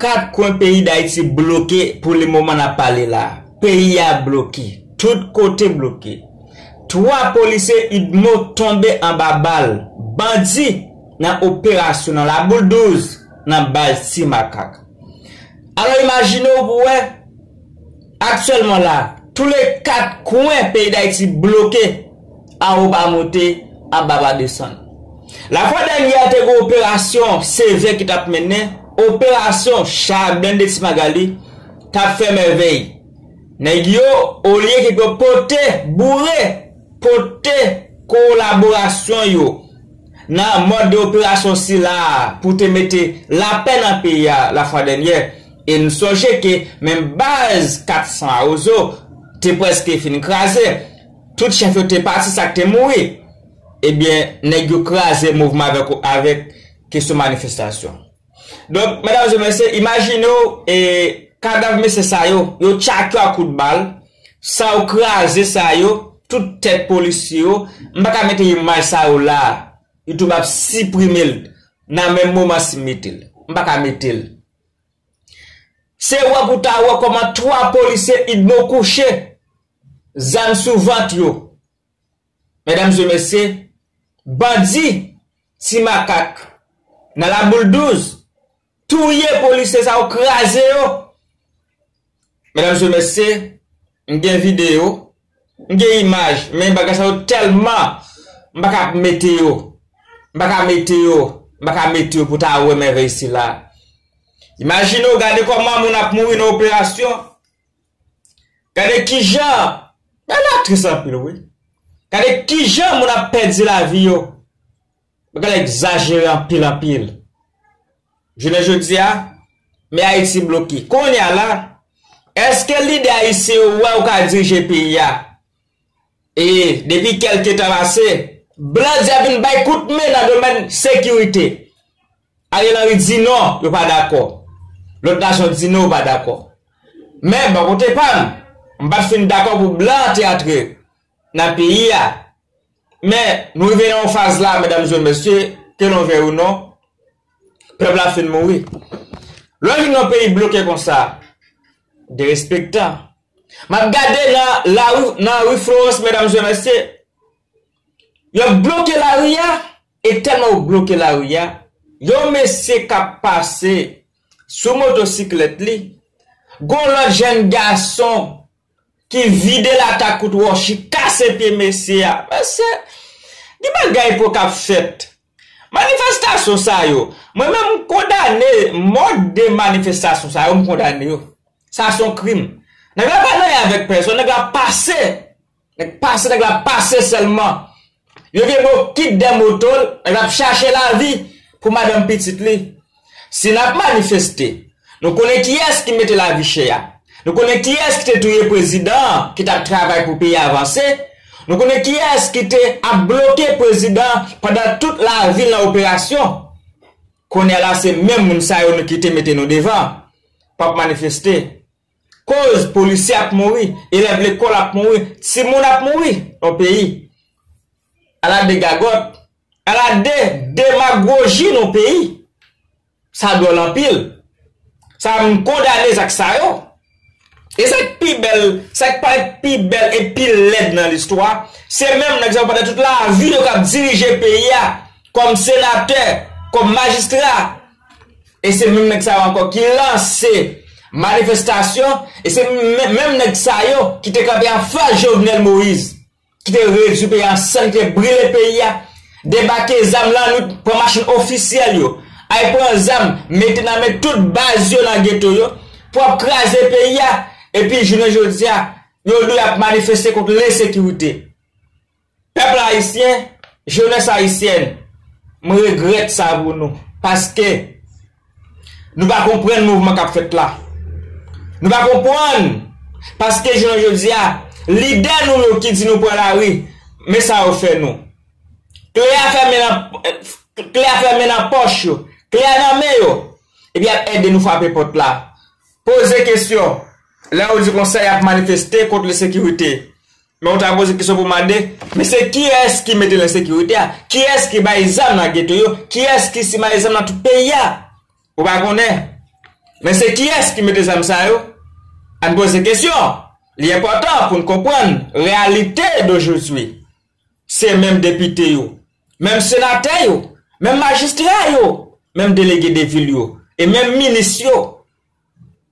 Kat kwen peyi Dayiti bloke pou le moman n ap pale la. Peyi a bloke. Tout kote bloke. 3 polisye udmo tonbe anba bal bandi nan operasyon nan Laboul 12 nan baz Ti Makak. Alò imajine w pou wè. Aktyèlman la, tou le 4 kwen peyi Dayiti bloke, awo pa moute, aba pa desann. La fwa dènyè te g'on operasyon sevè ki t'ap mennen, operasyon cha blende Ti Magali t'ap fè mèvèy. Nèg yo, olye ke yo pote, boure, pote kolaborasyon yo nan mòd de operasyon sila pou te mete lapè nan peyi a la fwa dènyè, E n sonje ke menm baz 400 Awozo te prèske fin kraze. Tout chèf yo te pati sa k te mouri. Ebyen, nèg yo kraze mouvman avèk ou avèk kesyon manifestasyon. Donk, medam e mesye, imajine w e kadav mesye sa yo, yo tchak yo ak kout bal, san yo kraze sa yo, tout tèt polisye yo, m pa ka mete imaj sa yo la a. Youtube ap siprime l nan menm moman si m mete l. M pa ka mete l. Se wè pou ta wè kòman 3 polisye udmo kouche zam sou vant yo medam e mesye bandi ti makak nan la boule 12 touye polisye sa yo kraze yo. Medam se mesye m gen video m gen imaj men bagay sa yo telman m pa kap mete yo m pa ka mete yo m pa ka mete yo pou ta wè mèvèy sila imajine w gade koman moun ap mouri nan operasyon gade kijan bagay la tris anpil wi gade kijan moun ap pèdi lavi yo Bagay la egzajere anpil anpil. Jounen jodi a, men Ayiti bloke. Kounye a la, èske lidè ayisyen yo wè yo ka dirije peyi a? E, depi kèlke tan pase, blan di y ap vin bay kout men nan domèn sekirite. Ariel Henry di non, yo pa dakò. Lòt nasyon di non yo pa dakò. Men, bò kote pa m, m pa t fin dakò pou blan te antre. nan peyi a. Men, nou rive nan yon faz la, medamzye, mesye, ke nou vèy ou non, pèp la fin mouri. Lè w vin yon peyi bloke konsa, derespektan. M ap gade nan lari, nan ri Florans, medamzye, mesye, y ap bloke lari a, e tèlman yo bloke lari a, yon mesye k ap pase sou motosiklèt li, gon lòt jenn gason ki vide latak kout Rochy kase pye mesye a mesye gen bagay pou kap fèt manifestasyon sa yo mwen menm m kondane mòd de manifestasyon sa yo m kondane yo sa son krim nèg la pa nan y avèk pèsòn nèg la pase nèg pase nèg la pase sèlman. Yo gen bon kit de moto l ap chache lavi pou madanm pitit li. Si n ap manifeste, nou konnen kiyès ki mete lavi chè a. Nou konnen kiyès ki te touye prezidan an ki t ap travay pou peyi a vanse. Nou konnen kiyès ki te ap bloke prezidan an pandan tout lavi l nan operasyon. Kounye a la se menm moun sa yo nou kite mete nou devan p ap manifeste. Koz polisye ap mouri, elèv lekòl ap mouri, timoun ap mouri nan peyi. Ala de gagòt, ala de demagoji nan peyi. Sa dwòl anpil. Sa m kondane zak sa yo. E sa k pi bèl, sa k parèt pi bèl e pi lèd nan listwa, se menm nèg sa yo pandan tout lavi yo k ap dirije peyi a kòm senatè, kòm majistra. E se menm nèg sa yo ankò ki lanse manifestasyon e se menm nèg sa yo ki te kanpe anfas Jovenel Moïse ki te redui peyi a an sann ki te brile peyi a debake zam lannwit pran machin ofisyèl yo al pran zam mete nan men tout baz yo nan geto yo pou ap kraze peyi a epi jounen jodi a yo dwe ap manifeste kont lensekirite. Pèp la ayisyen, jenès ayisyèn, m regrèt sa pou nou, paske nou pa konprann mouvman k ap fèt la. Nou pa konprann, paske jounen jodi a, lidè nou yo ki di nou pran lari, men sa yo fè nou. Kle a fèmen nan, kle a fèmen nan pòch yo, kle a nan men yo, epi y ap ede nou frape pòt la, poze kesyon, lè yo di konsa y ap manifeste kont lensekirite. Men ou ta poze kesyon pou mande, men se kiyès ki mete lensekirite a? Kiyès ki bay zam nan geto yo? Kiyès ki simaye zam nan tout peyi a? Ou pa konnen? Men se kiyès ki mete zam sa yo? Ann poze kesyon! Li enpòtan pou n konprann reyalite dojozwi. Se menm depite yo, menm senatè yo, menm majistra yo, menm delege de vil yo e menm minis yo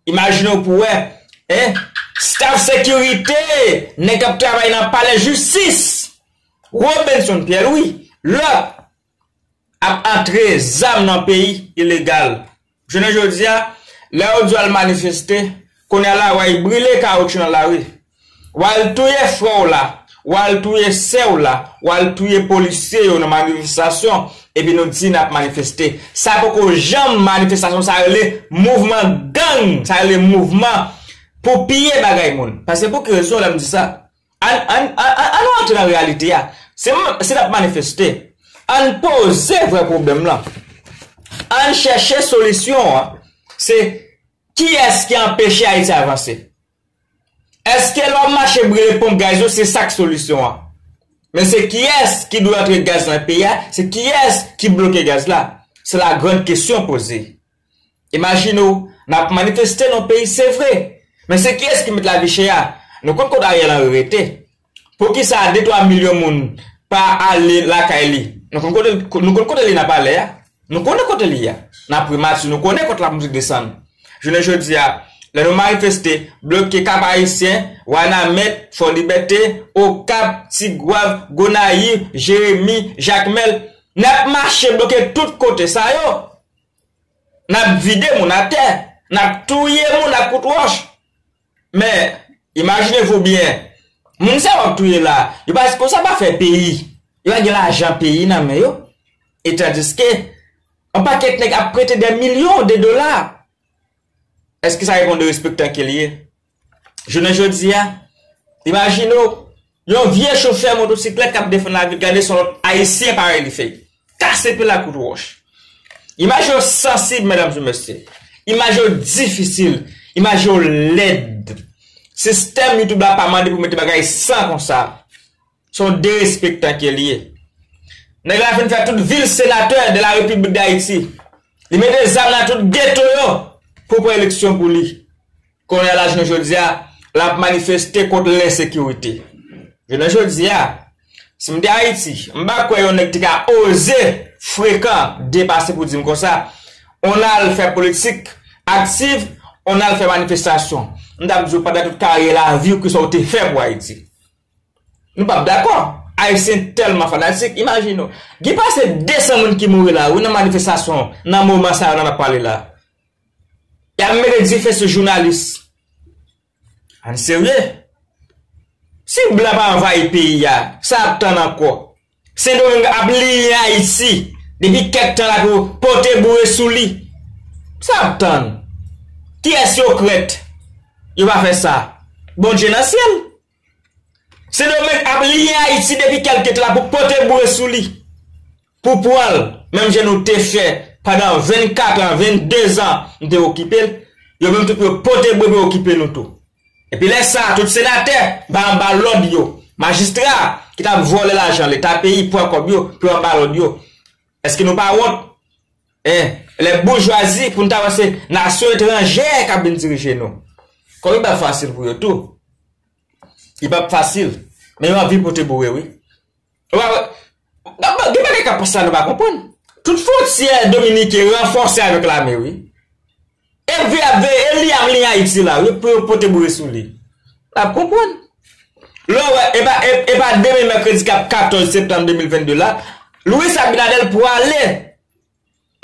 Imajine w pou wè, en, staf sekirite nèg k ap travay nan palè jistis Robinson Pierre Louis, lòt, ap antre zam nan peyi ilegal. Jounen jodi a, lè yo di yo al manifeste, kounye a la wè y brile kawotchou nan lari. Wal touye frè w la, wal touye sè w la, wal touye polisye yo nan manifestasyon epi nou di nap manifeste. Sa poko janm manifestasyon sa rele mouvman gang, sa rele mouvman pou piye bagay moun. Paske pou ki rezon lèm di sa? Ann ann ann nou antre nan reyalite a. Si nap manifeste, ann poze vrè pwoblèm lan. Ann chèche solisyon an se kiyès ki anpeche Ayiti avanse? Eske lè w mache brele ponp gaz yo se sa k solisyon an? Men se kiyès ki dwe antre gaz nan peyi a? Se kiyès ki bloke gaz la? Se la grand kesyon poze. Imajine w, n ap manifeste nan yon peyi se vre, men se kiyès ki met lavi chè a? Nou konn kot Ariel Henry rete. Poukisa de twa milyon moun pa ale lakay li? Nou konn kote nou konn kote li nan palè a. Nou konnen kote li a. Nan primati nou konnen kont lapolis desann. Jounen jodi a, lè nou manifeste, bloke Kap Ayisyen, Wanament, Fò Libète, Okap, Tigwav, Gonayiv, Jeremi, Jakmèl, n ap mache bloke tout kote sa yo. N ap vide moun atè. N ap touye moun ak kout wòch. Men, imajine vou byen, moun sa yo ap touye la, yo pa sipoze sa pa fè peyi, yo pa gen lajan peyi nan men yo, etandiske, yon pakèt nèg ap prete dè milyon de dola, èske sa reponn de respektan ke li ye? Jounen jodi a, imajine w, Yon vye chofè motosiklèt k ap defann lavi l gade son lòt Ayisyen parèy li fè kase pil akout wòch. Imaj yo sansib medam e mesye. Imaj yo difisil. Imaj yo lèd. Sistèm YouTube la pa mande pou mete bagay san konsa. Se yon derespektan ke l ye. Nèg la fin fè tout vi l senatè de la Repiblik Dayiti. Li mete zam nan tout geto yo pou pran eleksyon pou li. Kounye a la jounen jodi a, l ap manifeste kont lensekirite. Jounen jodi a, si m te Ayiti, m pa kwè yon nèg te ka oze frekan depase pou di m konsa, on al fè politik aktiv, on al fè manifestasyon. M t ap di w pandan tout karyè lavi w kisa w te fè pou Ayiti. Nou p ap dakò. Ayisyen tèlman fanatik, imajine w. Gen pase 200 moun ki mouri la wi nan manifestasyon nan moman sa yo nan ap pale la. Yap mete dife sou jounalis. Ann serye. Si blan pa anvayi peyi a, sa yap tann ankò? Sendomeng ap liyen Ayiti depi kèk tan la pou pote boure sou li. Sa yap tann? Kiyès yo krèt yo pa fè sa? Bondye nan syèl? Sendomeng ap liye Ayiti depi kèlke tan la pou pote boure sou li, pou pran l, menm jan nou te fè pandan 24 an, 22 zan nou te okipe l, yo menm tou pou yo pote boure pou yo okipe nou tou. Epi lè sa a, tout senatè ba anba lòd yo, majistra ki t ap vòlè lajan leta peyi, pran kòb yo, pou yo anba lòd yo. Èske nou pa wont? Eh lè boujwazi pou n ta wè se nasyon etranjè k ap vin dirije nou. Kòm li pa fasil pou yo tou. Li p ap fasil. Men yo anvi pote boure wi. Ou pa wè Gen bagay k ap pase la nou pa konprann. Tout fwontyè dominiken ranfòse avèk lame wi. MV ap veye el li ap li ayiti la wi pou yo pote boure sou li lap konprann lè w wè e pa demen mèkredi kap 14 septanm 2022 la Luis Abinader pwale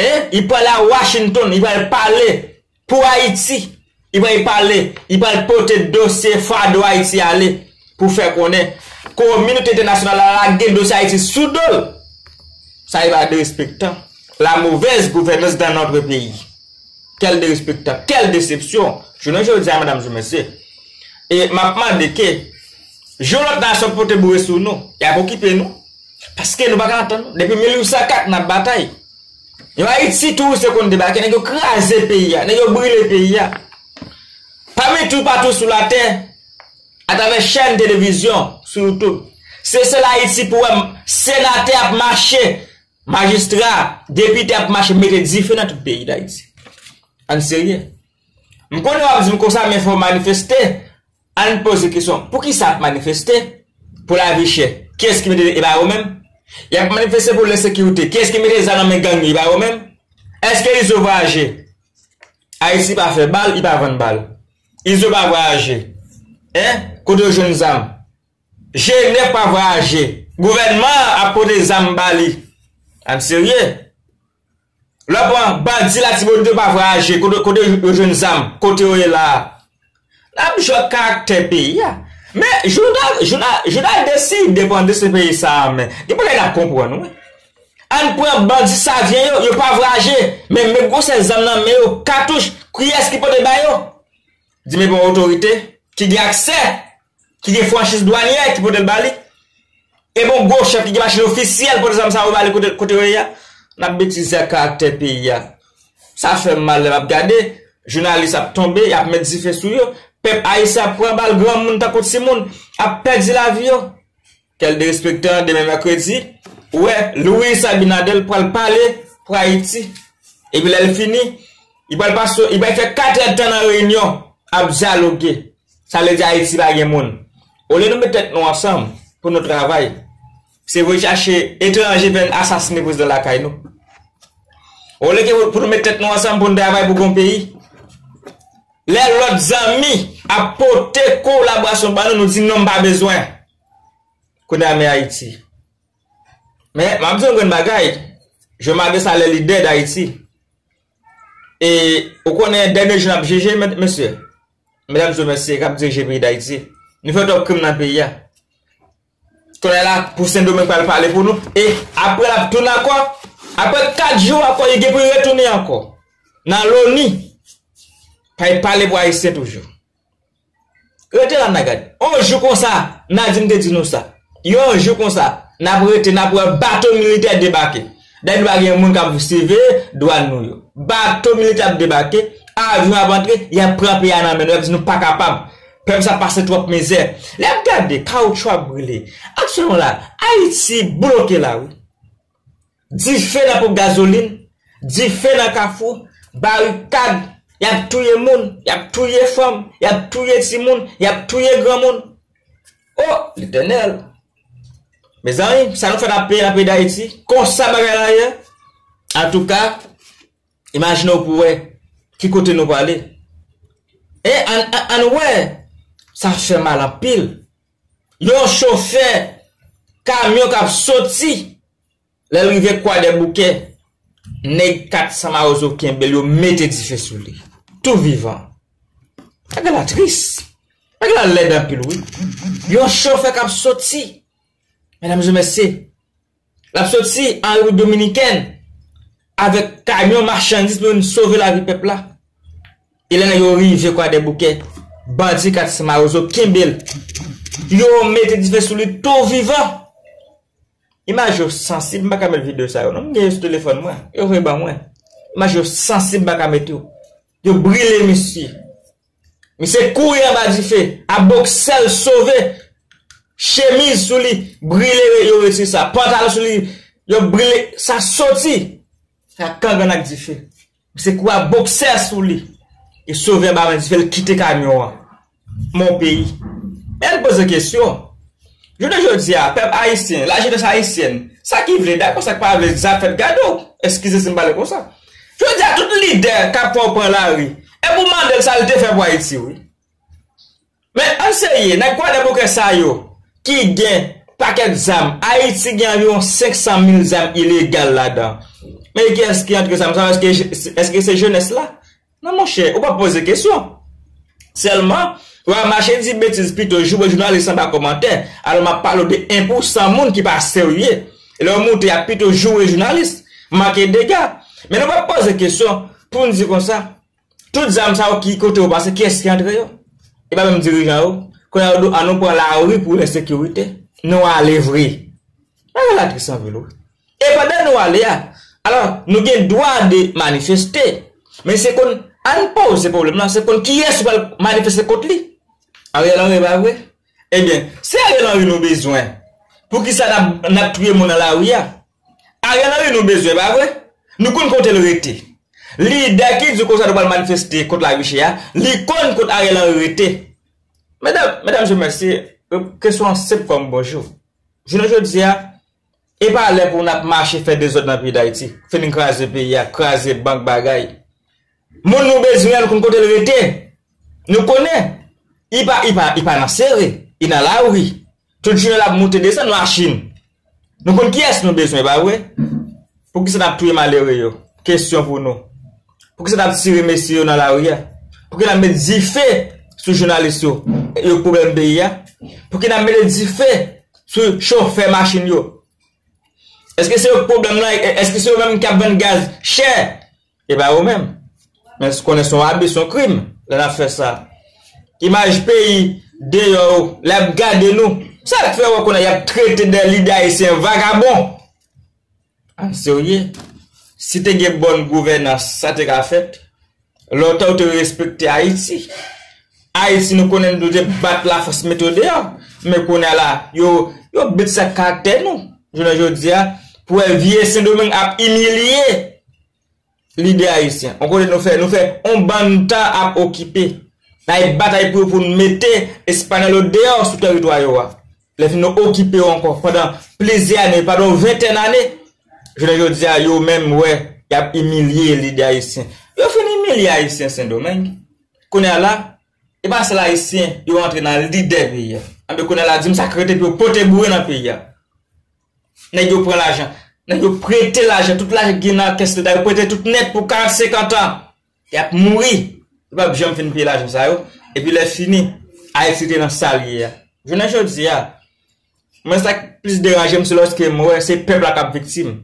e li pwale a Washington li pwale pale pou ayiti li pwale pale li pwale pote dosye fado ayiti ale pou fè konnen kominote entènasyonal la lage dosye ayiti sou do l sa li pwale derespektan la movèz gouvènans dan nòtre peyi. Quel derespektan, quel desepsyon! Jounen jodi a medam sou mesye, e map mande ke jou lòt nasyon pote boure sou nou, yap okipe nou? Paske nou paka antann nou. Depi 1804 nap batay. Yon Ayiti touris yo konn debake, nèg yo kraze peyi a, nèg yo brile peyi a. Pami tou patou sou latè, atravè chèn televizyon, sou YouTube, se sèl Ayiti pou wè senatè ap mache Majistra, depite ap mache mete dife nan tout peyi Dayiti. Ann serye. M konnen w ap di m konsa men fò manifeste. Ann poze kesyon, pou kisa ap manifeste? Pou lavi chè. Kiyès ki mete, e pa yo menm? Y ap manifeste pou lensekirite. Kiyès ki mete zam nan men gang yo, e pa yo menm? Eske Izo vwayaje? Ayiti pa fè bal, li pa vann bal. Izo pa vwayaje. Hein? Kote yo jwenn zam? Jene pa vwayaje. Gouvènman an ap pote zam ba li. Ann serye. Lò pran bandi Latibonit yo pa vwayaje. Kote yo jwenn zam. Kote yo ye la a. N ap jwe ak karaktè peyi a. Men, jou n a deside pran desten peyi sa a an men, gen bagay n ap konprann wi. Ann pran bandi Savyen yo, yo pa vwayaje. Men, men gwosè zam nan men yo. Katouch, kiyès ki pote ba yo? Di men bon otorite ki gen aksè, ki gen franchiz dwanyè ki pote l ba li, e bon gwo chèf ki gen machin ofisyèl pote zam sa yo ba li kote yo ye a, n ap betize ak karaktè peyi a. Sa fè m mal lè m ap gade, jounalis ap tonbe, y ap met dife sou yo, pèp ayisyen ap pran bal, granmoun tankou timoun ap pèdi lavi yo. Quel derespectant demen mercredi ou wè Luis Abinader pral pale pou Ayiti epi lèl fini li pral pase li pral fè 4 èd tan nan reyinyon ap dyaloge sa vle di Ayiti pa gen moun olye nou met tèt nou ansanm pou nou travay se voye chache etranje vin asasine prezidan lakay nou olye ke pou nou met tèt nou ansanm pou nou travay pou gon peyi lè lòt zanmi ap pote kolaborasyon ban nou nou di non m pa bezwen Kounye a men Ayiti. Men, m'ap di yon grenn bagay, je ma de sa lè lidè d'Ayiti. E, ou konnen dènye jou n'ap jije, mesye, medam zye mesye k'ap dirije peyi d'Ayiti. Nou fè twòp krim nan peyi a. Kounye a la, pou Sendomeng pral pale pou nou, e, apre l'ap tounen ankò, apre 4 jou ankò li gen pou li retounen ankò, nan loni, pa li pale pou Ayisyen toujou. Rete la n'a gad. On jou konsa, Nadim te di nou sa. Yon jou konsa, n'ap rete, n'ap wè bato militè debake. Dayè nou pa gen moun k'ap siveye dwan nou yo. Bato militè ap debake, avyon ap antre, y'ap pran peyi a nan men nou, y'ap di nou pa kapab. Pèp sa pase twòp mizè. Lè y'ap gade, kawoutchou ap brile. Aktyèlman la, Ayiti bloke la wi. Dife nan ponp gazolin, dife nan kafou, barikad, y ap touye moun, y ap touye fanm, y ap touye timoun, y ap touye granmoun. O! Letènèl! Mezanmi, sa nou fè n ap peye nan peyi Dayiti? Konsa bagay la ye? Antouka, imajine w pou w wè ki kote nou prale. E, ann wè, sa fè mal anpil. Yon chofè kamyon k ap soti. Lè l rive Kwadèboukè, nèg 400 mawozo kenbe l yo mete dife sou li. Tou vivan. Bagay la tris. Bagay la lèd anpil wi. Yon chofè k ap soti, medamzemesye, l ap soti an Repiblik Dominikèn avèk kamyon machandiz pou vin sove lavi pèp la. E lè nèg yo rive Kwadèboukè, bandi 400 mawozo kenbe l. Yo mete dife sou li tou vivan. Imaj yo sansib m paka met video sa yo non m gen yo sou telefòn mwen yo voye ban mwen imaj yo sansib m paka met yo yo brile misye misye kouri anba dife a boksèl sove chemiz sou li brile yo retire sa pantalon sou li yo brile sa soti sa kangan ak dife. Misye kouri ak boksè sou li e sovè ba bandi fè l kite kamyon an. Mon peyi. Men ann poze kesyon, jounen jodi a, pèp ayisyen, lajenès ayisyèn, sa ki vle dakò, sa k pa vle zafè gade w, eskize si m pale konsa. Jodi a tout lidè k ap fè w pran lari, e pou w mande l sa l te fè pou Ayiti wi. Men ann serye, nèg kwadèboukè sa yo ki gen pakèt zam, Ayiti gen anviwon 500 mil zam ilegal ladan. Men kiyès ki antre zam sa yo, èske se jenès la? Non monchè, ou pa poze kesyon. Sèlman, ou al mache di betiz pito, joure jounalis anba kòmantè, alò m ap pale w de 1 pou 100 moun ki pa serye. Lè yo moute y ap pito joure jounalis, manke dega. Men nou pa poze kesyon pou n di konsa. Tout zam sa yo ki kote yo pase kiyès ki antre yo? E pa menm dirijan yo? Kounye a yo do an nou pran lari pou ensekirite. Nou ale vre. Bagay la tris anpil wi. E pandan nou ale a, alò nou gen dwa de manifeste. Men se konn ann poze pwoblèm nan se konn kiyès ou pral manifeste kont li? Ariel Henry e pa vre? Ebyen, se Ariel Henry nou bezwen. Poukisa nap touye moun nan lari a? Ariel Henry nou bezwen pa vre? Nou konn kotel rete. Lidè ki di konsa nou pral manifeste kont Laruche a, li konn kot Ariel Henry rete. Medam, medam je mèsi, kesyon an senp kòm bonjou. Jounen jodi a, e pa lè pou nap mache fè dezòd nan peyi Dayiti, fin kraze peyi a, kraze bank bagay. Moun nou bezwen an nou konn kotel rete. Nou konnen. I pa, i pa, i pa nan sere, i nan lari. Tout jounen lap moute desann machin. Nou konn kiyès nou bezwen pa vre? Poukisa nap touye malere yo? Kesyon pou nou. Poukisa nap tire mesye yo nan lari a? Pouki nap met dife sou jounalis yo? Yo k pwoblèm peyi a? Pouki nap mete dife sou chofè machin yo? Eske se yo k pwoblèm lan? Eske se yo menm ki ap vann gaz chè? Epa yo menm. Men se konnen son abi son krim lè nap fè sa. Imaj peyi deyò yo lè yap gade nou sak fè wè konnen yap trete dè lidè ayisyen vagabon. Ann serye. Si te gen bòn gouvènans sa te ka fèt. Lontan yo te respekte ayiti. Ayiti nou konnen nou te bat la fòs mete yo deyò. Men kounye a la yo yo bit sa karaktè nou jounen jodia pou wè vye sendomeng ap imilye lidè ayisyen on kote nou fè nou fè on bann tan ap okipe nan ap batay pou yo pou nou mete espanyòl yo deyò sou tèritwa yo a lè fini nou okipe yo ankò pandan plizyè ane pandan on ventèn ane jounen jodi a yo menm wè y ap imilye lidè ayisyen yo fin imilye ayisyen sendomeng kounye a la e pa sèl ayisyen yo antre nan lidè peyi a anben kounye a la di m sa k rete pou yo pote boure nan peyi a. Nèg yo pran lajan. Nèg yo prete lajan. Tout lajan ki gen nan kès leta yo prete tout nèt pou 40, 50 an. Y ap mouri. Yo pap janm fin peye lajan sa yo. Epi lè fini, Ayiti rete nan sa l ye a. Jounen jodi a, mwen sa k plis deranje m se lòske m wè se pèp la k ap viktim.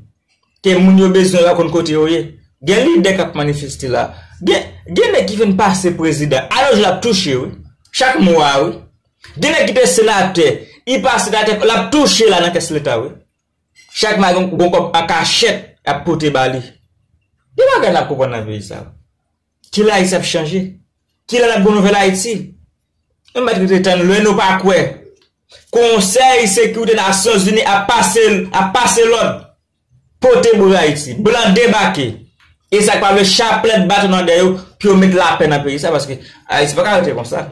Ke moun yo bezwen yo pa konn kote yo ye. Gen lidè k ap manifeste la. Gen nèg ki fin pase prezidan. A yon jou l ap touche wi. Chak mwa wi. Gen nèg ki te senatè, li pa senatè ankò, lap touche la nan kès leta wi. Chak mwa gon kòb an kachèt yap pote ba li. Gen bagay nap konprann nan peyi sa. Kilè Ayiti ap chanje? Kilè nap gon nouvèl Ayiti? Nou mèt rete tann lè nou pa kwè. Konsèy sekirite nasyonzini ap pase lòd. Pote bri Haiti. Blan debake. E sak pa vle chaplèt baton nan dèyè yo pou yo met lapè nan peyi sa paske Haiti paka rete konsa.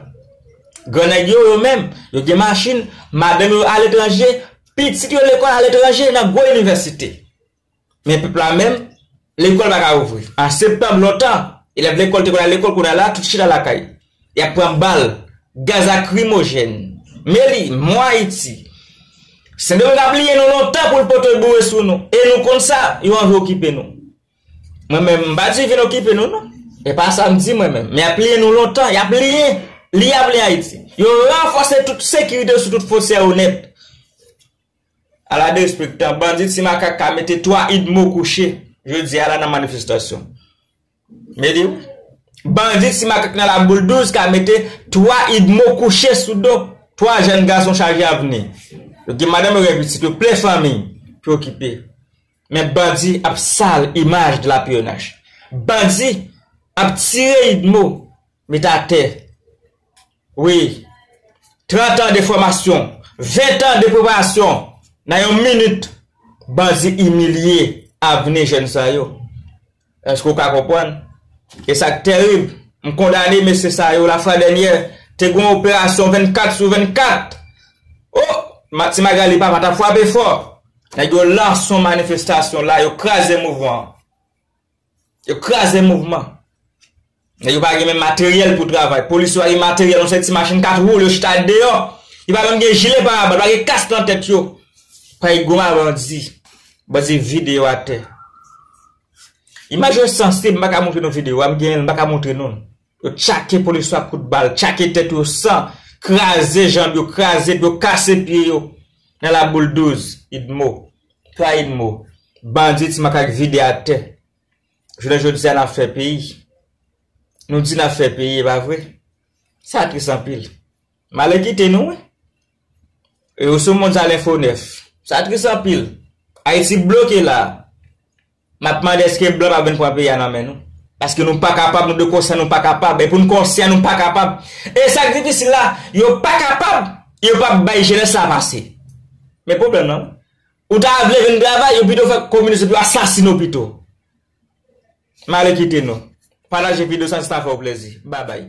Gran nèg yo yo menm yo gen machin, madanm yo a letranje, pitit yo lekòl a letranje nan gwo inivèsite. Men pèp la menm lekòl paka ouvri. An septanm lontan elèv lekòl te konn al lekòl kounye a la tout chita lakay. Y ap pran bal, gaz akrimojèn, men li, mwen Ayiti. Sendomeng pa bliye nou lontan pou l pote boure sou nou, e nou konn sa, yo anvi okipe nou. Mwen menm, m pa di vin okipe nou non, e pa sa m di mwen menm, men y ap bliye nou lontan, y ap bliye, li ap bliye Ayiti. Yo ranfòse tout sekirite sou tout fwontyè yo nèt. A la derespektan, bandi Ti Makak ka mete 3 Udmo kouche, jodi a la nan manifestasyon. Mete w. Bandi ti makak nan laboul 12 ka mete 3 idmo kouche sou do 3 jèn gason chaje avni. Yo gen madanm yo gen pitit yo plen fanmiy pou yo kipe. Men bandi ap sal imaj de la pnh. Bandi ap tire idmo mete atè. Wi. Trant an de fòmasyon, ven tan de preparasyon, nan yon minit bandi imilye avni jèn sa yo. Èske ou ka konprann? E sa k terib, m kondane mesye sa yo lafwa dènyè, te gen yon operasyon 24 sou 24! O! Ti Magali papa t ap frape fò! Nèg yo lanse yon manifestasyon la, yo kraze mouvman an. Yo kraze mouvman. Nèg yo pa gen menm materyèl pou travay. Polis yo pa gen materyèl. Yon seri ti machin 4 wou yo chita deyò. Yo pa menm gen jile parabal. Yo pa gen kask nan tèt yo. Pay goma bandi. Bandi vide yo atè. Imaj yo sansib. M pa ka montre nou videyo a. M genyen l m pa ka montre nou l. Yo tchake polis yo ak kout bal, tchake tèt yo san, kraze janb yo, kraze do, kase pye yo nan laboul 12 Idmo, Pla Idmo. Bandi ti makak vide atè. Jounen jodi a n ap fè peyi. Nou di n ap fè peyi, e pa vre. Sa tris anpil. Malè kite nou wi. E yo sou moun sa lenfo 9. Sa tris anpil. Ayiti bloke la a. Map mande eske blan pa byn pran peyi a nan men nou? Paske nou pa kapab nou dwe konsyan nou pa kapab e pou nou konsyan nou pa kapab e sak difisil la yo pa kapab e yo pap bay jenès la pase men pwoblèm nan ou ta vle vin travay yo pito fè kominis epi yo asasine w pito mare kite nou pataje video sa si sa fè w plezi babay.